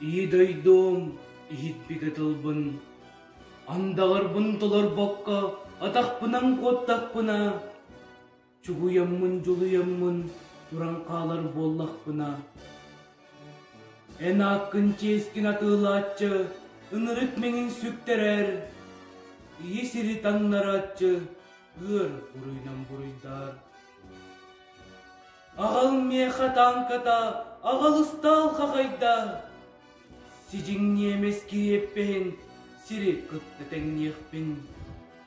Ии дойдуом иһитпитэ тылбын андаҕарбын толорбокко атахпынан куоттахпына чугуйаммын дьулуйаммын туран хаалар буоллахпына эн ааккын чиэскин атыылааччы ынырык мэҥин сүктэрэр ийи сири таҥнарааччы ыар буруйунан буруйдаар аҕал миэхэ таанката аҕал ыстаал хахайда сидьиҥ ниэмэс кириэппэһин сири кытта тэҥниэхпин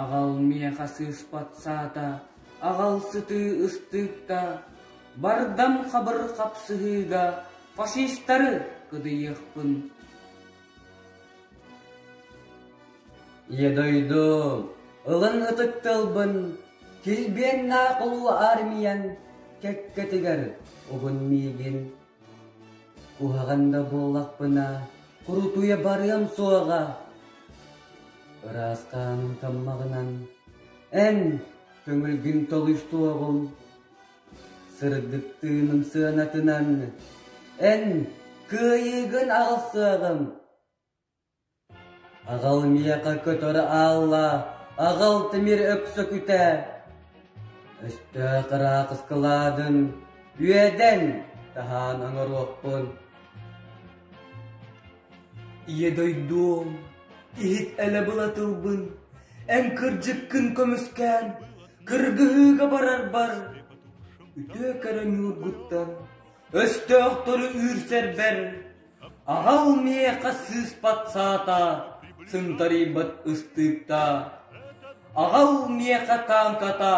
Аҕал миэхэ сыыспат саата, аҕал сытыы ыстыыкта, бардам хабыр хапсыһыыга фашистары кыдыйыахпын. Ийэ дойду, ылын ытык тылбын, килбиэннээх улуу армиян кэккэтигэр угун миигин. Куһаҕан да буоллахпына, курутуйа барыам суоҕа. Ыраастааным таммаҕынан, эн көҥүлгүн толуйсуоҕум. Сырдыктыыным сыанатынан, эн кыайыыгын аҕалсыаҕым. Аҕал миэхэ көтөр ааллаа, аҕал тимир өксөкүтэ, өстөөх ыраахыскылаадын үөдэн таһаан оҥоруохпун. Ийэ дойдуом, иһит элэ була тылбын, эн кырдьыккын көмүскээн, кыргыһыыга барарбар, үтүө көрө ньуургуттан өстөөхтөрү үүрсэрбэр Аҕал миэхэ сыыспат саата сынтарыйбат ыстыыкта, Аҕал миэхэ тааҥката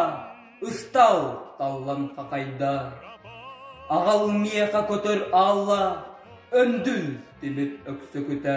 ыстал таллан хахайда, Аҕал миэхэ көтөр аалла өндүл тимир өксөкүтэ.